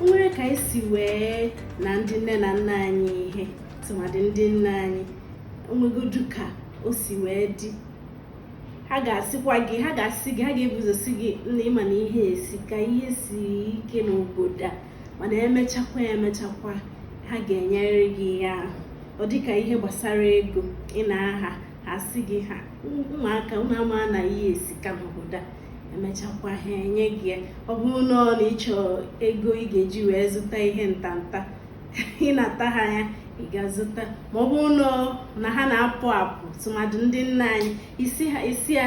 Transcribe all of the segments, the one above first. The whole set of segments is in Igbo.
o nwere ka anyị si wee na ndị nne na nna anyị ihe tụmadị ndị nne anyị onwegodu ka o si wee dị ha ga-asịkwa gị ha ga-asị gị ha ga-ebu ụzọ sị gị nna ị ma na ihe esika ihe si ike n'obodo a mana emechakwa emechakwa ha ga-enyerị gị ihe ahụ ọ dịka ihe gbasara ego ị na-aha ha sị gị ha ụmụaka ụmụ ama na ihe esika n'obodo a emechakwa ha enye gị ya ọ bụrụ na ọ na ị chọ ego ị ga-eji wee zụta ihe ntanta ị nata ha ya ị ga-azụta ma ọ bụrụ na ha na-apụ apụ tụmadụ ndị nne anyị ị sị ha ị sị ya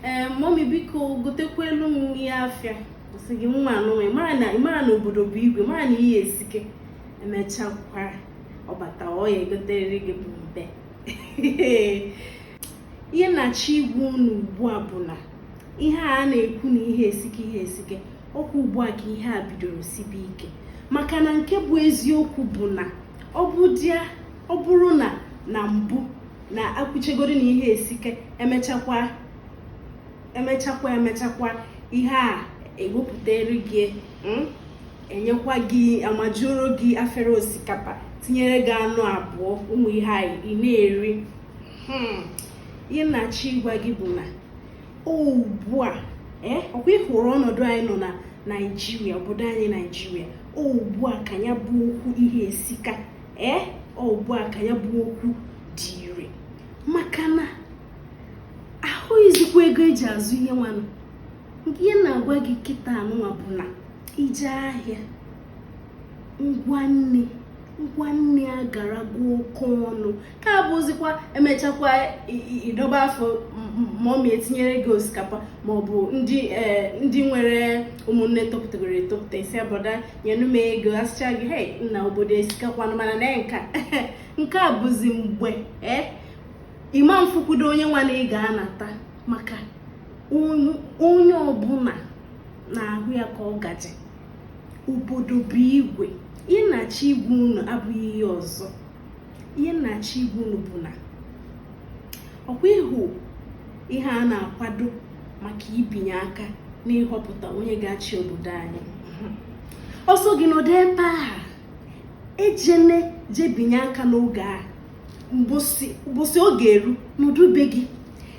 ee momi biko gotekwalụ m ihe afịa sị gị nwa anụnwa ị mara na obodo bụ igwe mara na ihe esike emechakwa ọ bata ọ ya-egoterịrị gị bụ mbe ihe m na-achọ ịgwa unu ugbu a bụ na ihe a na-ekwu na ihe esike ihe esike ọkwa ugbu a ka ihe a bidoro sibe ike maka na nke bụ eziokwu bụ na ọ bụrụ na na mbụ na ekwuchagodu na ihe esike eeh emechakwa emechakwa ihe a ewepụtara gị hmm, enyekwa gị amajuoro gị afere osikapa tinyere gị anụ abụọ ụmụ ihe anyị ị na-eri hmm. ihe m na-achọ ịgwa gị bụ na ugbu a eh, ọkwa ị hụrụ ọnọdụ anyị nọ na naijiria obodo anyị naijiria ugbu a ka ya bụ okwu ihe esika ee eh, ugbu a ka ya bụ okwu dị ire maka na ahụghịzikwa ego eji azụ ihe nwanụ ihe m na-agwa gị kịta anụnwa bụ na i je ahịa ngwa nni ngwa nni agarago oke ọnụ ka abụzikwa emechakwa ị dọba afọ ma ọ ma etinyere gị osikapa maọbụ ndị e, ndị nwere ụmụnne topụtagoro etopụta ị sị a brọda nyenụ m ego asịcha gị he nna obodo esikakwa mana na nka nke a bụzi mgbe e, ị ma mfukwudo onye nwa na ị ga-anata maka onye ọbụla na-ahụ ya ka ọ gaje obodo bụ igwe ihe m na-achọ ịgwa unu abụghị ihe ọzọ ihe m na-achọ ịgwa unu bụ na ọkwa ị hụ ihe a na-akwado maka ibinye aka n'ịhọpụta onye ga-achị obodo anyị ọ sọ gị nọdụ ebe a ejene je binye aka n'oge a mbọsị ọ ga-eru nọdụ be gị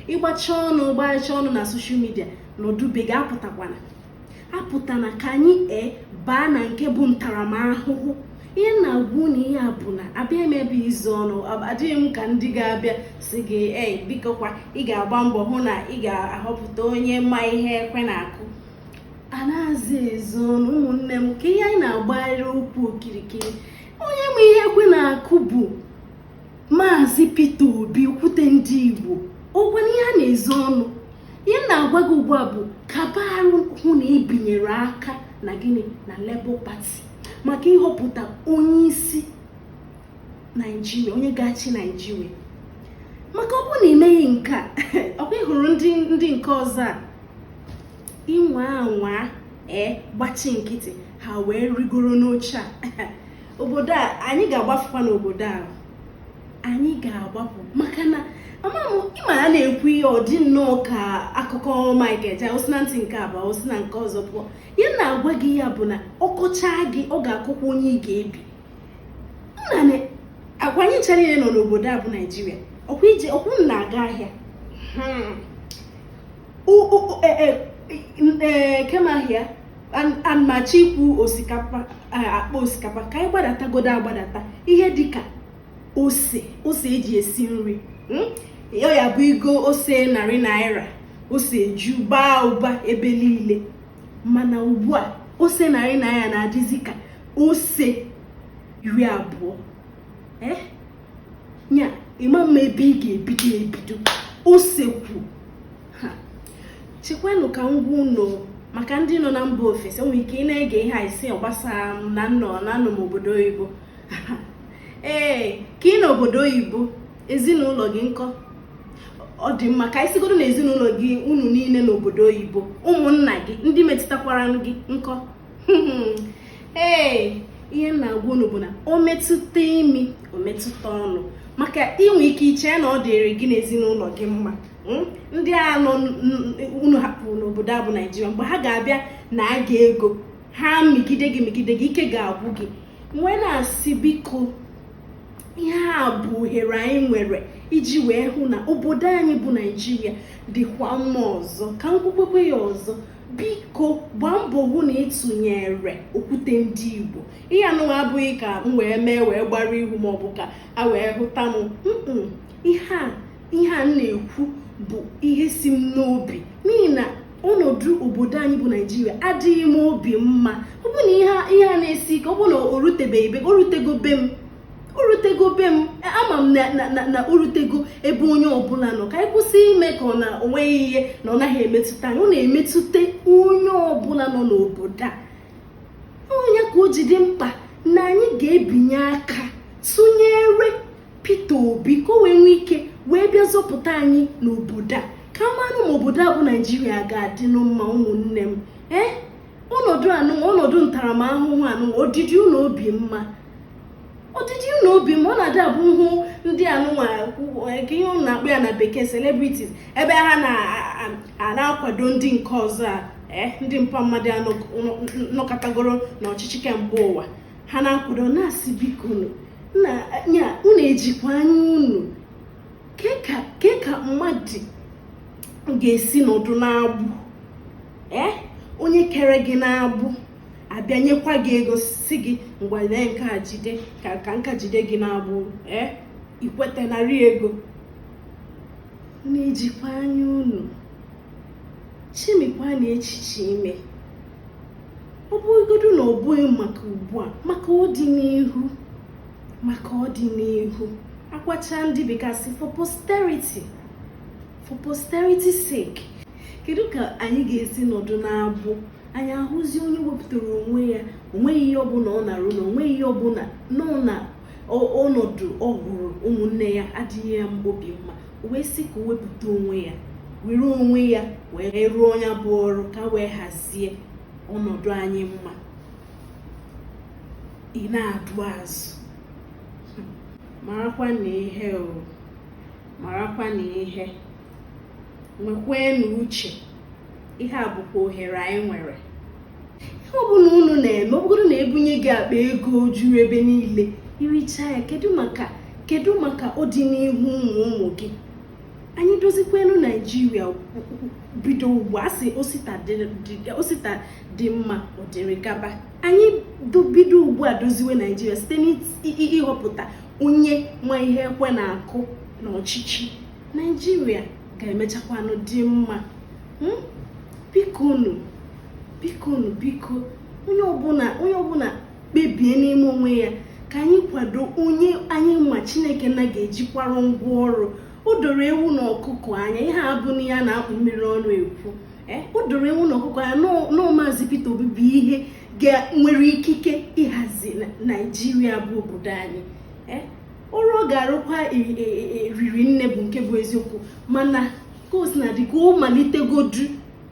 ị gbacha ọnụ gbacha ọnụ na soshal midia nọdụ be gị apụtakwana apụta na ka anyị ee baa na nke bụ ntaramahụhụ ihe m na-agwa unu ihe a bụ na abịa m ebe izo ọnụ adịghị m ka ndị ga-abịa sị gị ee bikokwa ị ga-agba mbọ hụ na ị ga-ahọpụta onye ma ihe ekwe na-akụ anazị ezo ọnụ ụmụnne m ka ihe anyị na-agbagharị okwu okirikiri onye ma ihe ekwe na-akụ bụ Maazị Peter Obi okwute ndị Igbo ọ bụghị ihe a na-ezo ọnụ ihe m na-agwa gị ugbu a bụ kaba arụ hụ na ibinyere aka na gịnị na Labour Party maka ịhọpụta onye isi Naijiria onye ga-achị Naijiria maka ọ bụrụ na imeghị nke a ọkwa ịhụrụ ndị ndị nke ọzọ a ịnwaa anwa ee gbachi nkịtị ha wee rigoro n'oche a obodo a anyị ga-agbafukwa n'obodo a anyị ga-agbapụ maka na ama m ịma a na-ekwu ihe ọ dị nnọọ ka akụkọ Mike Ejeagha osi na ntị nke a baa osi na nke ọzọ pụọ ihe m na-agwa gị ihe a bụ na ọkọchaa gị ọ ga-akụkwa onye ị ga-ebi m na-agwa anyị ncha niile nọ n'obodo a bụ Naijiria ọkwa ije ọkwa unu na-aga ahịa hmm. e, e, e, kemahịa anaghị m achọ ikwu osikapa akpa osikapa ka anyị gbadatagodo agbadata ihe dịka ose ose eji esi nri hmm? ya ya bụ igo ose narị naira ose eju baa ụba ebe niile mana ugbu a ose narị naira na-adịzi ka ose iri abụọ eh? ya ịma mma ebe ị ga-ebido ebido ose kwu chekwanụ ka m gwa unu maka ndị nọ na mba ofesi nwere ike ị na-ege ihe a ị sị ọ gbasara m na nnọ na anọ m obodo oyibo ee ka ị nọ obodo oyibo ezinụlọ gị nkọ ọ dị mma ka anyị sịgodu na ezinụlọ gị unu niile nọ obodo oyibo ụmụnna gị ndị metụtakwara gị nkọ ee ihe m na-agwa unu bụ na o metụta imi o metụta ọnụ maka inwe ike iche na ọ dịrị gị na ezinụlọ gị mma hmm? ndị anụ unu hapụrụ n'obodo a bụ naijiria mgbe ha ga-abịa naa gị ego ha mịgide gị mịgide gị ike ga-agwụ gị m wee na-asị biko ihe a bụ ohere anyị nwere iji wee hụ na obodo anyị bụ naijiria dịkwa mma ọzọ ka m kwukwaa ya ọzọ biko gbaa mbọ hụ na ịtụnyere okwute ndị igbo ihe anụnwa abụghị ka m wee mee wee gbara ihu maọbụ ka a wee hụta m ihe a ihe a m na-ekwu bụ ihe si m n'obi n'ihi na ọnọdụ obodo anyị bụ naijiria adịghị m obi mma ọ bụ na ihe a na-esi ike ọ bụ na o rutebeghị be gị o rutego be m o rutego be m ama m na o rutego ebe onye ọbụla nọ ka anyị kwụsị ime ka ọ na onweghị ihe na ọ naghị emetụta anyị ọ na-emetụta onye ọbụla nọ n'obodo a ọ nya ka o ji dị mkpa na anyị ga-ebinye aka tụnyere Peter Obi ka o wee nwee ike wee bịa zọpụta anyị n'obodo a ka a manụ ma obodo a bụ naijiria ga-adịnụ mma ụmụnne m ee eh? ọnọdụ anụnwa ọnọdụ ntaramahụhụ anụnwa ọ dịdị unu obi mma ọ dịdị unu obi mma ọ na-adị abụ a hụ ndị anụnwa nke ihe unu na-akpọ ya na bekee celebrities ebe ha na-akwado ndị nke ọzọ a eh, ndị mpa mmadụ nọkatagoro n'ọchịchị kemgbe ụwa ha na-akwado na-asị bikonu na ya unu ejikwa anya unu kee ka mmadụ ga-esi nọdụ n'agbụ ee eh? onye kere gị n'agbụ abịa nyekwa gị ego sị gị ngwa lee nke a jide ka m ka jide gị n'agbụ ee eh? i kweta nara ego na-ejikwa anya unu chemikwanụ echiche ime ọ bụrụgodu na ọ bụghị maka ugbu a maka ọdịnihu maka ọdịnihu akwacha ndị bekee sị for posterity for posterity sake kedu ka anyị ga-esi nọdụ n'agbụ anyị ahụzi onye wepụtara onwe ya onweghị ihe ọbụla ọ na-arụ na onweghị ihe ọbụla nọ na ọnọdụ ọ hụrụ ụmụnne ya adịghị ya mkpụrụ obi mma o wee sị ka o wepụta onwe ya were onwe ya wee rụọ nya bụ ọrụ ka wee hazie ọnọdụ anyị mma ị na-adụ azụ marakwanụ ihe o marakwanụ ihe nwekweenụ uche ihe a bụkwa ohere anyị nwere ihe ọbụla unu na-eme ọ bụrụgodu na e bunye gị akpa ego o juru ebe niile i richaa ya kedu maka kedu maka ọdịnihu ụmụ ụmụ gị anyị dozikweenụ naijiria bido ugbu a sị osita dị mma ọ dịrị gaba anyị bido ugbu a doziwe naijiria site n'ịhọpụta onye ma ihe ekwe na-akụ n'ọchịchị naijiria ga-emechakwanụ dị mma hmm? bikonu bikonu biko onye ọbụla onye ọbụla kpebie n'ime onwe ya ka anyị kwado onye anyị ma chineke na ga-ejikwara ngwa ọrụ o doro ewu na ọkụkọ anya ihe a abụghị ihe a na-akpụ mmiri ọnụ ekwu eh, o doro ewu na ọkụkọ anya na maazị Peter Obi bụ onye nwere ikike ịhazi naijiria bụ obodo anyị eh, ọrụ ọ ga-arụkwa e, e, e, riri nne bụ nke bụ eziokwu mana ka o sina dị ka ọ malitegodu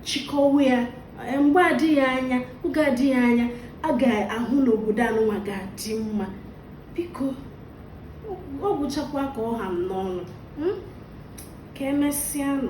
chịkọwa ya mgbe adịghị anya oge adịghị anya a ga-ahụ na obodo anụnwa ga-adị mma biko ọ gwụchakwa ka ọ ha m n'ọnụ hmm? ka emesịanụ